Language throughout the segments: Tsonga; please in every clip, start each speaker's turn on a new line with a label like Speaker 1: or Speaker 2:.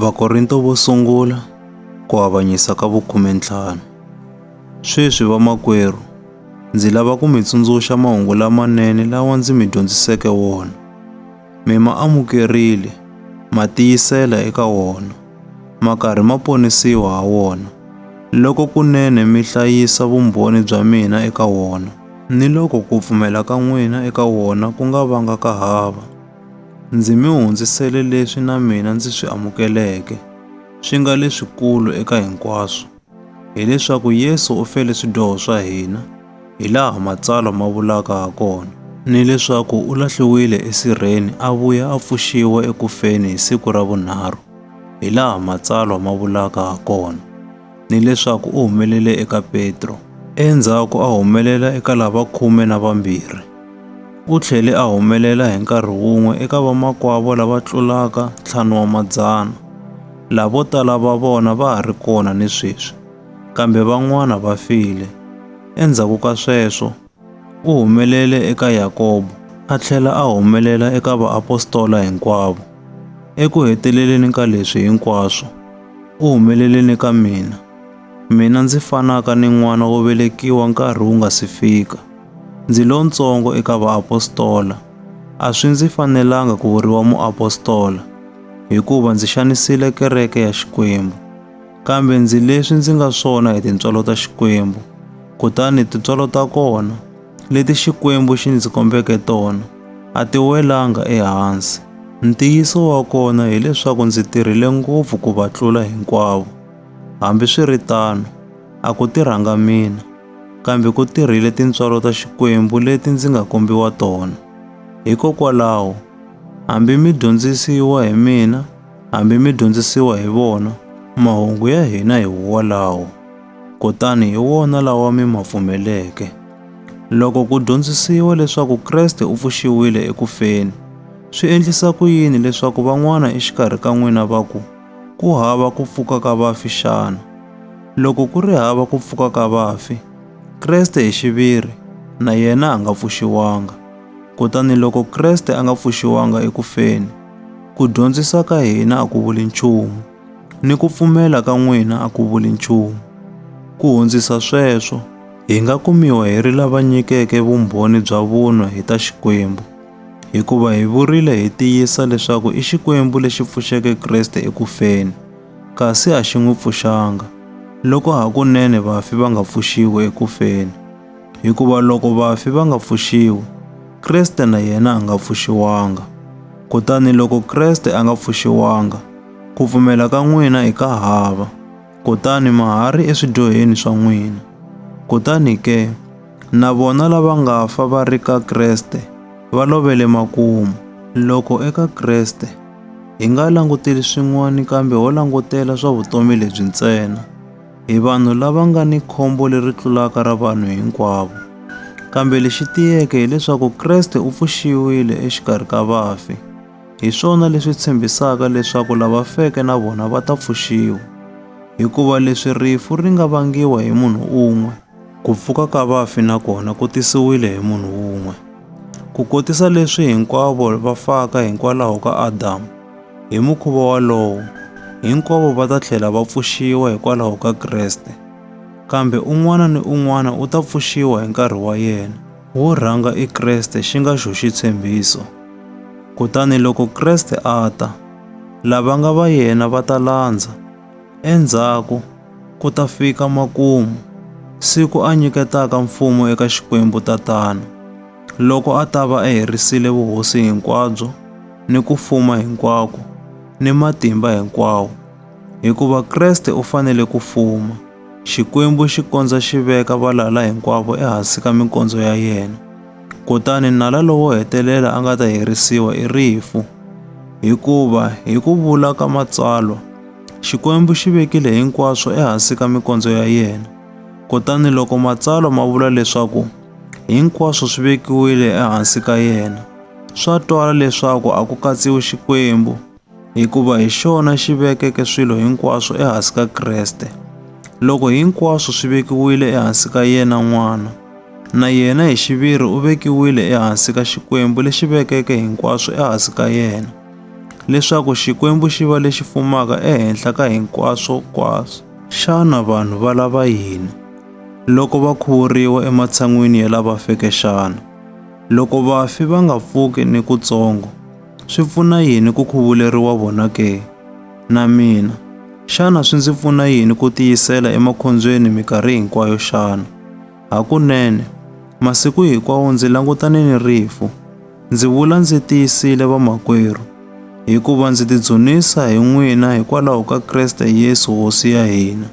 Speaker 1: Vakorinto vo sungula ku avanyisa ka vukhume ntlhanu. Sweswi vamakwerhu, ndzi lava ku mi tsundzuxa mahungu lamanene lawa ndzi mi dyondziseke wona. Mi ma amukerile, ma tiyisela eka wona, ma karhi ma ponisiwa ha wona, loko kunene mi hlayisa vumbhoni bya mina eka wona, ni loko ku pfumela ka n'wina eka wona ku nga vanga ka hava. Ndzi mi hundzisele leswi na mina ndzi swi amukeleke, swi nga leswikulu eka hinkwaswo, hileswaku Yesu u fele swidyoho swa hina, hi laha Matsalwa ma vulaka ha kona, ni leswaku u lahliwile esirheni a vuya a pfuxiwa eku feni hi siku ra vunharhu, hi laha Matsalwa ma vulaka ha kona. ni leswaku u humelele eka Petro. Endzhaku a humelela eka lava khume na vambirhi. U tlhele a humelela hi nkarhi wun'we eka vamakwavo lava tlulaka ntlhanu wa madzana, lavo tala va vona va ha ri kona ni sweswi, kambe van'wana va file. Endzhaku ka sweswo, U humelele eka Yakobo, a tlhela a humelela eka vaapostola hinkwavo. Eku heteleleni ka leswi hinkwaswo, u humelele ni ka mina, mina ndzi fanaka ni n'wana wo velekiwa nkarhi wu nga si fika. Ndzi lontsongo eka vaapostola. A swi ndzi fanelanga ku vuriwa muapostola, hikuva ndzi xanisile kereke ya Xikwembu. kambe ndzi leswi ndzi nga swona hi tintswalo ta Xikwembu. Kutani tintswalo ta kona, leti Xikwembu xi ndzi kombeke tona, a ti welanga ehansi. Ntiyiso wa kona hileswaku ndzi tirhile ngopfu ku va tlula hinkwavo. Hambiswiritano, a ku tirhanga mina, kambe ku tirhile tintswalo ta Xikwembu leti ndzi nga kombiwa tona. Hikokwalaho, hambi mi dyondzisiwa hi mina, Hambi mi dyondzisiwa hi vona, mahungu ya hina hi wolawo, kutani hi wona lawa mi ma pfumeleke. Loko ku dyondzisiwa leswaku Kreste u pfuxiwile eku feni, swi endlisa ku yini leswaku van'wana exikarhi ka n'wina va ku, ku hava ku pfuka ka vafi xana? Loko ku ri hava ku pfuka ka vafi, Kreste hi xiviri na yena a nga pfuxiwanga. Kutani loko Kreste a nga pfuxiwanga eku feni, Ku dyondzisa ka hina a ku vuli nchumu, ni ku pfumela ka n'wina a ku vuli nchumu. Ku hundzisa sweswo, hi nga kumiwa hi ri lava nyikeke vumbhoni bya vunwa hi ta Xikwembu, hikuva hi vurile hi tiyisa leswaku i Xikwembu lexi pfuxeke Kreste eku feni, kasi a xi n'wi pfuxanga, loko hakunene vafi va nga pfuxiwi eku feni. Hikuva loko vafi va nga pfuxiwi, Kriste na yena a nga pfuxiwanga. Kutani loko Kreste a nga pfuxiwanga, ku pfumela ka n'wina i ka hava, kutani ma ha ri eswidyoheni swa n'wina. Kutani ke, na vona lava nga fa va ri ka Kreste va lovele makumu. Loko eka Kreste, hi nga languteli swin'wana kambe ho langutela swa vutomi lebyi ntsena. Hi vanhu lava nga ni khombo leri tlulaka ra vanhu hinkwavo. Kambe lexi tiyeke hileswaku Kreste u pfuxiwile exikarhi ka vafi. Hi swona leswi tshembisaka leswaku lava feke na vona va ta pfuxiwa. Hikuva leswi rifu ri nga vangiwa hi munhu un'we, ku pfuka ka vafi na kona ku tisiwile hi munhu un'we. Ku kotisa leswi hinkwavo va faka hikwalaho ka Adamu, Hi mukhuva wolowo, hinkwavo va ta tlhela va pfuxiwa hikwalaho ka Kreste, kambe un'wana ni un'wana u ta pfuxiwa hi nkarhi wa yena. Wo rhanga i Kreste xi nga xo xitshembiso. Kutani loko Kreste a ta, lava nga va yena va ta landza. Endzhaku ku ta fika makumu, siku a nyiketaka mfumo eka Xikwembu Tatana, loko a ta va a herisile vuhosi hinkwabyo ni ku fuma hinkwako ni matimba hinkwawo. Hikuva Kreste u fanele ku fuma, Xikwembu xi kondza xi veka valala hinkwavo ehansi ka minkondzo ya yena. Kutani nala lowo hetelela a nga ta herisiwa i rifu. Hikuva hi ku vula ka Matsalwa, Xikwembu xi vekile hinkwaswo ehansi ka minkondzo ya yena. Kutani loko Matsalwa ma vula leswaku hinkwaswo swi vekiwile ehansi ka yena, Swa twala leswaku a ku katsiwi Xikwembu, hikuva hi xona xi vekeke swilo hinkwaswo ehansi ka Kreste. Loko hinkwaswo swi vekiwile ehansi ka yena n'wana, na yena hi xiviri u vekiwile ehansi ka Xikwembu lexi vekeke hinkwaswo ehansi ka yena, leswaku Xikwembu xi va lexi fumaka ehenhla ka hinkwaswo kwaswo. Xana vanhu va lava yini loko va khuvuriwa ematshan'wini ya lava feke xana? Loko vafi va nga pfuki ni kutsongo, swi pfuna yini ku khuvuleriwa vona ke? Na mina, xana swi ndzi pfuna yini ku tiyisela emakhondzweni mikarhi hinkwayo xana? Hakunene, masiku hinkwawo ndzi langutane ni rifu. Ndzi vula ndzi tiyisile vamakwerhu, hikuva ndzi tidzunisa hi n'wina hikwalaho ka Kriste Yesu Hosi ya hina.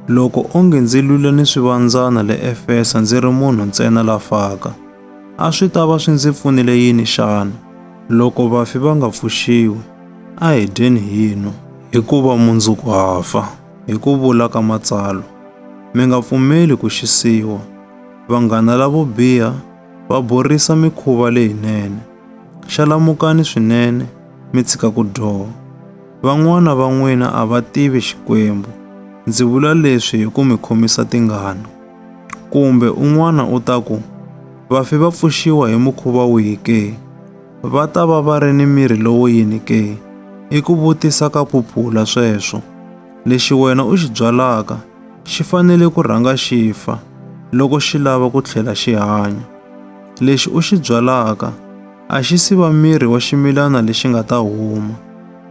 Speaker 1: Loko onge ndzi lwile ni swivandzana le Efesa ndzi ri munhu ntsena la faka, a swi ta va swi ndzi pfunile yini xana? Loko vafi va nga pfuxiwi, a hi dyeni hi nwa. Hikuva mundzuku ha fa, hi ku vula ka Matsalwa. Mi nga pfumeli ku xisiwa. Vanghana lavo biha va borisa mikhuva leyinene. Xalamukani swinene, mi tshika ku dyoha. Van'wana va n'wina a va tivi Xikwembu. Ndzi vula leswi hi ku mi khomisa tingana. Kumbe un'wana u ta ku, Vafi va pfuxiwa hi mukhuva wihi ke? Va ta va va ri ni miri lowo yini ke? I ku vutisa ka phuphula sweswo. Lexi wena u xi byalaka xi fanele ku rhanga xi fa loko xi lava ku tlhela xi hanya. Lexi u xi byalaka a xi si va miri wa ximilana lexi nga ta huma,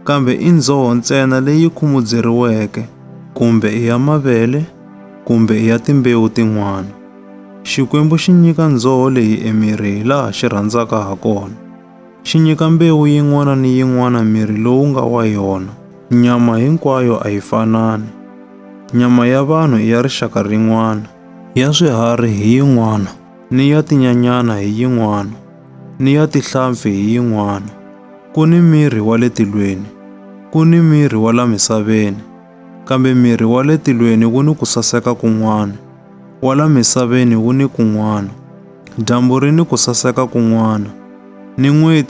Speaker 1: kambe i ndzoho ntsena leyi khumudzeriweke, kumbe i ya mavele, kumbe i ya timbewu tin'wana. Xikwembu xi nyika ndzoho leyi emiri hi laha xi rhandzaka ha kona. Xi nyika mbewu yin'wana ni yin'wana miri lowu nga wa yona. Nyama hinkwayo a yi fanani. Nyama ya vanhu i ya rixaka rin'wana. Ya swiharhi hi yin'wana. ni ya tinyanyana hi yin'wana, ni ya tihlampfi hi yin'wana. Ku ni miri wa le tilweni, ku ni miri wa la misaveni, kambe miri wa le tilweni wu ni ku saseka kun'wana, wa la misaveni wu ni kun'wana. Dyambu ri ni ku saseka kun'wana, ni n'weti